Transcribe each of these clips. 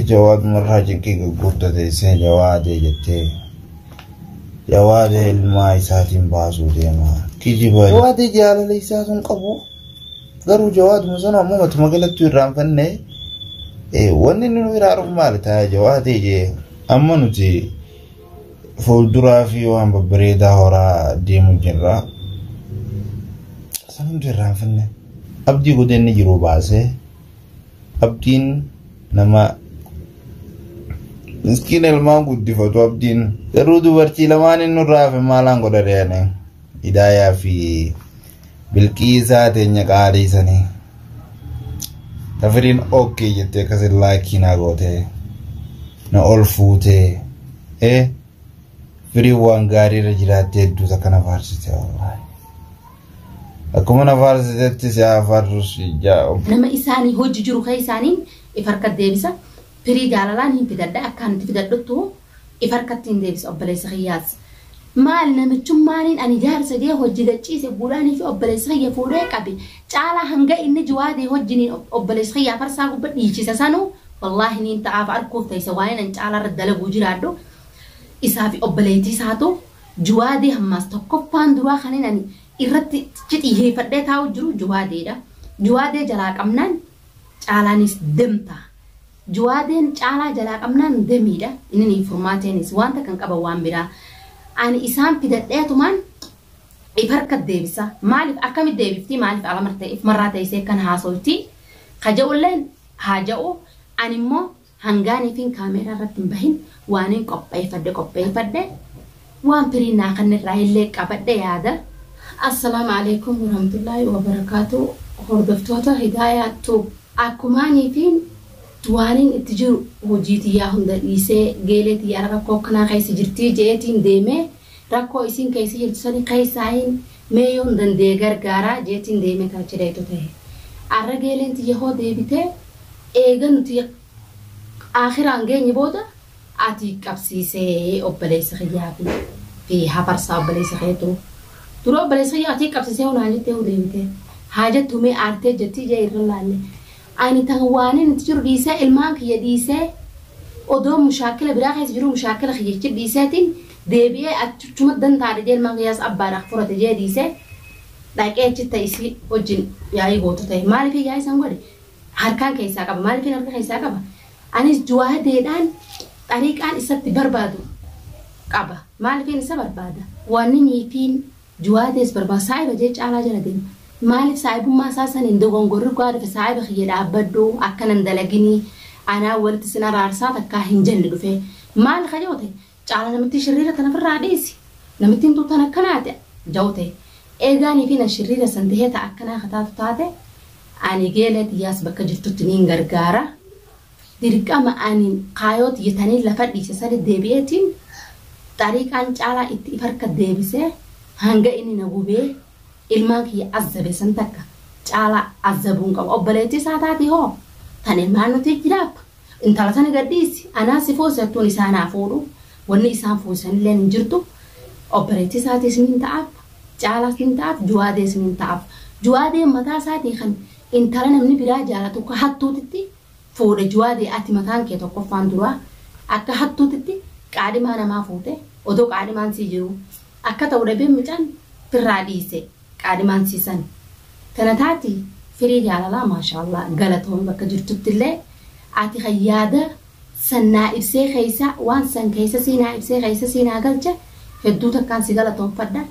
Jawaad marraa cikkii gurgurta teessee jawaadee jettee jawaadee ilmaa isaatiin baasuu deema. Kijiba jawaadee jaalala isaa kan qabu garuu jawaaduma sana ammoo matuma galatti irraanfannee wanni inni nu irraa dhufu maali taa'ee jawaadee jee amma nuti fuulduraa fi waan babbareedaa horaa deemu jirra. Sana hundi irraanfannee abdii godhee inni jiru baasee. Abdiin nama miskiina ilmaan guddifatu abdiin. Garuu dubartii lamaan inni irraa hafe maalaan godha deane hidaayaa fi bilqiisaa teenya qaalii sanii. Tafiriin okkee jettee akkasin laakii naa gootee na ol fuutee ee firii waan gaarii irra jiraattee hedduu takka na faarsite wallaahi. Akkuma na faarsitetti si haa faarsu si jaa ob. Nama isaani hojji jiru keessaani if harkat deebisa pirii jaalalaan hin fidadha akka ani itti fidadhuttu if harkatti hin deebisa obboleessa kiyyaas maal namichummaaniin ani jaarsa gee hojji gachiise guudhaanii fi obboleessa kiyya fuudhee qabe caalaa hanga inni jiwaadee hojjiniin obboleessa kiyyaa farsaa gubba dhiichisa sanu wallaahi niin ta'aaf arkuuf ta'isa waa'een an caalaa irra dalaguu jiraadhu isaa fi obboleettii isaatu Jawaadee hammaas tokkoffaan duraa kanin ani irratti xiyyeeffadhee taa'uu jiru Jawaadeedha. Jawaadee jalaa qabnaan Caalaaniis demta. Jawaadeen Caalaa jalaa qabnaan demiidha. Inni hin furmaateenis wanta kan qaban waan biraa. Ani isaan fidadheetumaan if harka deebisa. Maaliif akkami deebiftii maaliif ala martee if marraa teessee kan haasooftii? Ka ja'ulleen haa ja'u ani immoo Hangaan ifiin kaameeraa irratti hin bahin waanin qopheeyfadhe qopheeyfadhe, waan firiin naa kanne irraa illee qabadhe yaada. Assalaamu Aleeykum Warahmatullaahi Wabarakaatuh Hordoftoota Hidaayaa Tube Akkumaan ifiin waanin itti jiru hojii tiyyaa hunda dhiisee geelee tiyyaa rakkoo akkanaa keessa jirtii je'eetiin deemee, Rakkoo isiin keessa jirtu sani keessaahin mee yoon danda'e gargaaraa jeetiin deemee kan achi dhayxu tahe. Arrageeleen tiyya hoo deebitee eega nuti Aakhiraan geenye booda ati qabsiisee obboleessa kiyyaa fi fi hafarsaa obboleessa keetu dura obboleessa kiyyaa ati qabsiisee hoo naan jettee hoo deebitee haa jettu mee aartee jettii jee irra laalle. Ani tan waanin itti jiru dhiisee ilmaan kiyya dhiisee odoon mushaakkila biraa keessa jiruu mushaakkila kiyya achi dhiiseetiin deebi'ee achuchuma dantaa didee ilmaan kiyyaas abbaa naaf furate jee dhiisee dhaqee achitta isii wajjin yaa'ii gootu ta'e maaliifin yaa'ii san godhe harkaan keessaa qaba maaliifin harka keessaa qaba anis juwaadeedhaan xariiqaan isatti barbaadu qaba maaliifin isa barbaada waanni niitiin Juwaa tees barbaa saahiba jee caalaa jala deema maalif saahibummaa isaa saniin dogongorri gaa dhufe saahiba kiyya dhaabbadhu akkana hin dalaginii anaa walitti sin araarsaa takkaa hin jenne dhufee maal ka jawte caala namittii shirriira tana firraa dhiisi namittiin tun tan akkanaati jawte eegaa niifi nan shirriira san tahee ta akkanaa ka taatu taate ani geelee tiyyaas bakka jirtutti niin gargaara Dirqama ani kaayoo tiyya taniin lafa dhiise sani deebi'eetiin xariiqaan caalaa itti if harka deebise hanga inni na gubee ilmaan kiyya azzabe san takka caalaa azzabuu hin qabu. Obboleettii isaa taati hoo? Tan ilmaan nuti jiraattu? Intala tana gad dhiisi anaa si fuuse hattuun isaan haa fuudhu wanni isaan fuusanilleen hin jirtu obboleettii isaatiis niin ta'aaf caalaas niin ta'aaf juwaadees niin ta'aaf. Juwaadeen mataa isaatii kan intala namni biraa jaalatu ka hattuutitti. fuudhe juwaade ati mataan kee tokkoffaan duraa akka hattuutitti qaadhimaa namaa fuute odoo qaadhimaan sii jiruu akka ta'u dhabee mucaan firraa dhiise qaadhimaan sii san tana taati firii jaalalaa maashaallaah galatoomi bakka jirtuttillee ati kan yaada san naa ibsee keessa waan san keessa sii naa ibsee keessa sii naa galche hedduu takkaan si galatoomfadha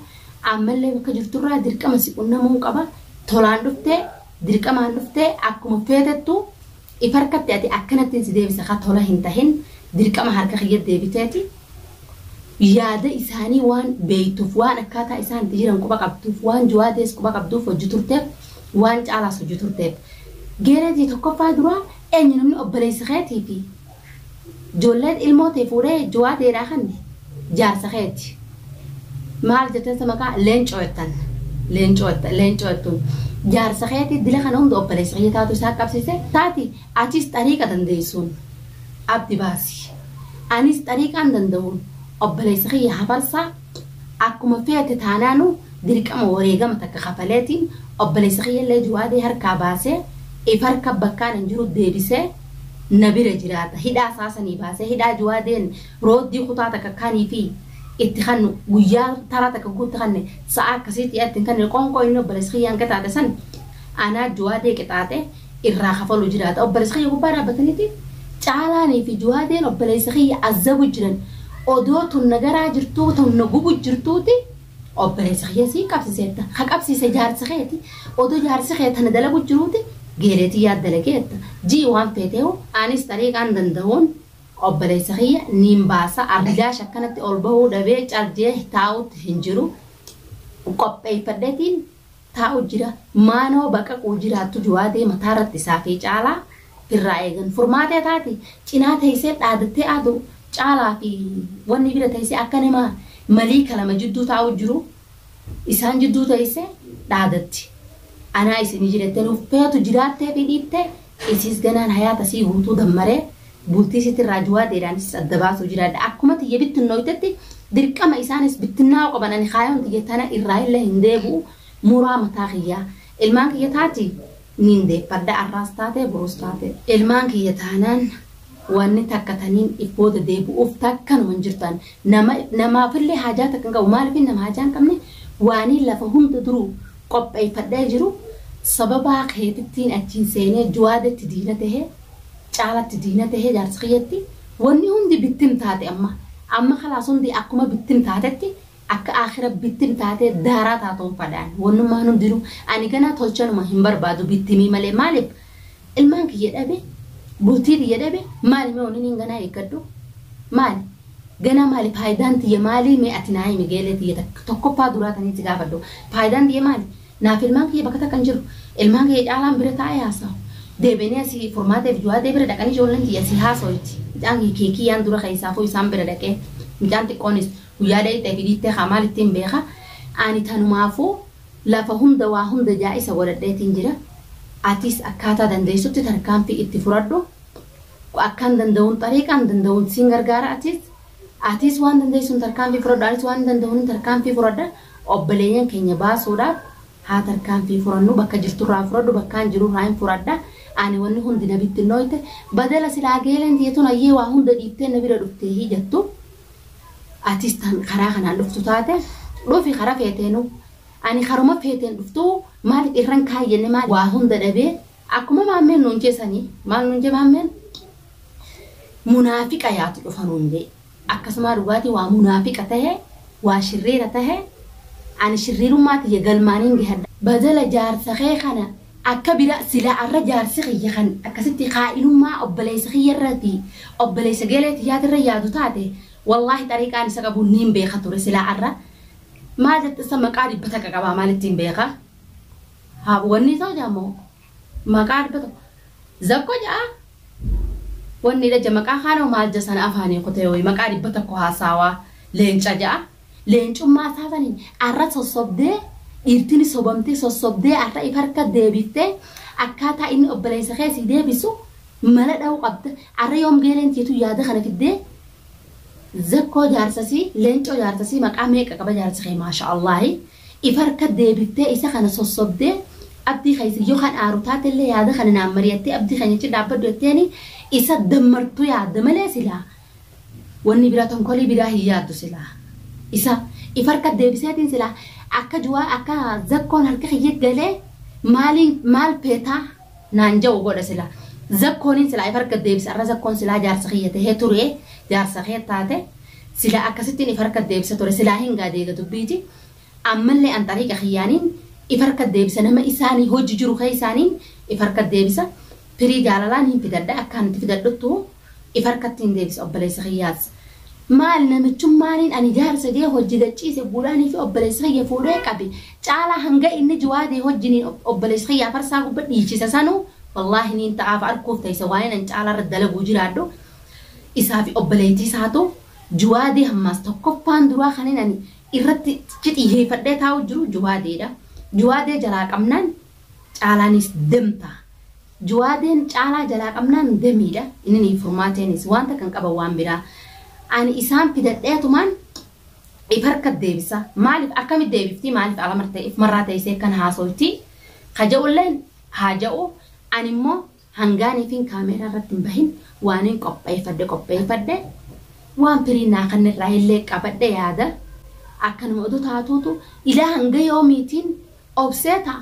ammallee bakka jirturraa dirqama si qunnamuun qaba tolaan dhuftee Dirqamaan dhuftee akkuma feetettu if harkatti ati akkanattin si deebisa ka tola hin tahin dirqama harka kiyya deebiteeti yaada isaanii waan beeytuuf waan akkaataa isaan itti jiran quba qabduuf waan juwaadees quba qabduuf hojji turteef waan caalaas hojji turteef geereetii tokkoffaa duraa eenyu namni obboleeysa keetii fi Ijoolleen ilmoo tee fuudhee juwaa teedhaa kanni jaarsa keeti. Maal jettan sa maqaa leencoo jettan. Leencoo jetta leencoo jettuun. Jaarsa keeti dila kana hunda obboleessa kiyya taatu isaa qabsiise taati achiis xariiqa dandeessuun. Abdi baasi. Anis xariiqaan danda'uun obboleessa kiyya hafarsaa akkuma feete taanaanu dirqama wareegama takka kafaleetiin obboleessa kiyya illee juwaadee harkaa baasee if harka bakkaan hin jiru deebisee na bira jiraata hidhaa isaa sanii baasee hidhaa juwaadeen rooddii kutaa takka kaniifii itti kannu guyyaa taraa takka guu itti kanne sa'aa akkasiitti itti hin kanne qoonqoo inni obboleessa kiyyaan qixaaxe san anaa juwaadee qixaaxe irraa kafalu jiraata obboleessa kiyya gubbaa dhaabbataniiti caalaanii fi juwaadeen obboleessa kiyya azabu jiran odoo tun nagaraa jirtuu tun na gubu jirtuuti Obboleessa kiyya si qabsiseetta, ka qabsiise jaarsa keeti, odoo jaarsi kee tana dalagu jiruuti geelee tiyyaa dalageetta, ji'i waan feeteehu anis xariiqaan dandahuun obboleessa kiyya niin baasa, arjaash akkanatti ol bahuu dhabee cal jeeh taa'utti hin jiru, qopheeyfadheetiin. taa'u jira maa nama baqaquu jiraattu jowaa deema taaratti isaa fi caalaa firraa eegan furmaatee taati cinaa teessee dhaadattee aadu caalaa fi wanni bira teessee akka nama malii kalama jidduu taa'u jiru isaan jidduu teessee dhaadatti anaa isinii jirettee nuuf feetu jiraattee fi dhiittee isiis ganaan hayaata sii guutuu dammaree Bultii sitirraa juwaadeedhaanisis adda baasuu jiraadha. Akkuma tiyya bittinnooytetti dirqama isaanis bittinnaa'uu qaban ani kaayoon tiyya tana irraahillee hin deebu'u muraa mataa kiyyaa. Ilmaan kiyya taati niin deeffadha arraas taate boruus taate. Ilmaan kiyya taanaan wanni takka taniin if booda deebu'uuf takkanuma hin jirtu ani. Nama namaafillee haajaa takka hin qabu maaliifin nama haajaa hin qabne waaniin lafa hunda duruu qopheeyfadhee jiru sababaa keetittiin achiin seenee juwaadetti diina tahee. caalatti diina tahee jaarsa kiyyatti wanni hundi bittim taate amma amma kalaas hundi akkuma bittim taatetti akka aakhira bittim taatee daaraa taatuun fadhaan wannummaan hundinuu ani ganaa tolchanuma hin barbaadu bittimii malee maaliif ilmaan kiyya dhabe bultii tiyya dhabe maali mee wanni ganaa eeggadhu maali ganaa maali faayidaan tiyya maalii mee ati naa himi geelee tiyya tokkoffaa duraa tanitti gaafadhu faayidaan tiyya maali Naaf ilmaan kiyya bakka takka hin jiru. Ilmaan kiyya Caalaan bira taa'ee haasawa. Deebi'anii asii Furmaatee fi Juwaadee bira dhaqanii ijoolleen tiyya asii haasoyiti. Mucaan kiyya Keekiyyaan dura keessaafuu isaan bira dhaqee mucaan xiqqoonis guyyaa dhayxee fi dhiittee kaa maal ittiin beeka. Ani tanumaafuu lafa hunda waa hunda jaa'isa godhadheetiin jira. Atis akkaataa dandeessutti tarkaanfii itti furadhu. Akkan danda'uun xariiqaan danda'uun siin gargaara atis. Atis waan dandeessuun tarkaanfii furadhu anis waan danda'uun tarkaanfii furadha. Obboleeyyan keenya baasuudhaaf haa tarkaanfii furannuu bakka jirturraa furadhu bakkaan jirurraa hin furadha ani wanni hundi na bittinnooyte badala silaa geeleen tiyya tun hayyee waa hunda dhiiftee na bira dhufteehi jattu atis tan karaa kanaan dhuftu taate dhufi kara feeteenuu ani karuma feeteen dhuftuu maalif irran kaayi jenne maal waa hunda dhabee akkuma maammeen nuun jee sanii maal nuun jee maammeen munaafiqa yaatu dhufa nuun jee. akkasumaa dhugaatii waa munaafiqa tahe waa shirriira tahe ani shirriirummaa tiyya galmaaniin gahadha. Badala jaarsa kee kana akka bira silaa arra jaarsi kiyya kan akkasitti khaa'inummaa obboleeysa kiyya irrati obboleeysa geelee tiyyaati irra yaadu taate wallaahi xariiqaan isa qabu niin beekha ture silaa arra maal jette san maqaa dhibba takka qabaa maalittiin beekha haa wannii sawjaa moo Maqaa arba tokko zakko ja'a wonni dhaja maqaa kaanoo maal jasana afaanii kutee woyi maqaa dhibba tokko haasaawa leenca ja'a leencummaa isaa saniin arra sossobdee dhiirtini sobamtee sossobdee arra if harka deebiiftee akkaataa inni obboleessa kee sii deebisu mala dha'uu qabda arra yoom geeleen tiitu yaada kana fiddee zakkoo jaarsasii leencoo jaarsasii maqaa meeqa qaba jaarsi kee maasha Allaahi If harka deebiftee isa kana sossobdee abdii keessa yoo kan aaru taatellee yaada kana naan mari'attee abdii keenya cin dhaabbadhu jetteeni isa dammartu yaadda malee silaa wanni biraa tonkolii biraa hin yaaddu silaa isa if harka deebiseetiin silaa akka juwaa akka zakkoon harka kiyya galee maaliin maal feetaa naan ja'u godha sila zakkoonin silaa if harka deebisa arra zakkoon silaa jaarsa kiyya tahee turee jaarsa kee taate silaa akkasittin if harka deebisa ture silaa hin gaadeega dubbiiti ammallee an xariiqa kiyyaanin if harka deebisa nama isaani hojji jiru keessaaniin if harka deebisa firii jaalalaan hin fidadha akkaan itti fidadhuttu if harkatti hin deebisa obboleessa kiyyaas maal namichummaaniin ani jaarsa gee hojji gachiise buudhaanii fi obboleessa kiyya fuudhee qabi caalaa hanga inni jiwaadee hojjiniin obboleessa kiyyaa farsaa gubba dhiichisa sanuu wallaahi niin ta'aaf arkuuf ta'isa waa'een an caalaa irra dalaguu jiraadhu isaa fi obboleettii isaatu jiwaadee hammaas tokkoffaan duraa kanin ani irratti xiyyeeffadhee taa'u jiru jiwaadeedha jiwaadee jalaa qabnaan caalaaniis demta Juwaadeen caalaa jalaa qabnaan demiidha inini furmaateenis waan takka hin qaban waan biraa ani isaan fidadheetumaan if harka deebisa maalif akkamit deebiftii maalif ala martee if marraa teessee kan haasoytii ka ja'ulleen haa ja'u ani immoo hangaaniifin kaameeraa irratti hin bahin waanin qopheeyfadhe qopheeyfadhe waan firii naa kanne irraa illee qabadhe yaada akkanuma oduu taatuutu ilaa hanga yoomiitiin obsee ta'a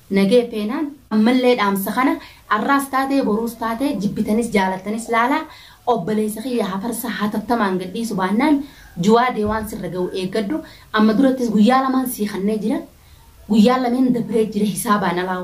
Nagee peenaan ammallee dhaamsa kana arraas taatee boruus taatee jibbitanis jaalattanis laalaa obbaleessa kiyya hafarsa hatattamaan gadhiisu baannaan juwaadee waan sirra gahu eeggadhu amma durattis guyyaa lamaan sii kannee jira guyyaan lameen dabree jira hisaabaan alaa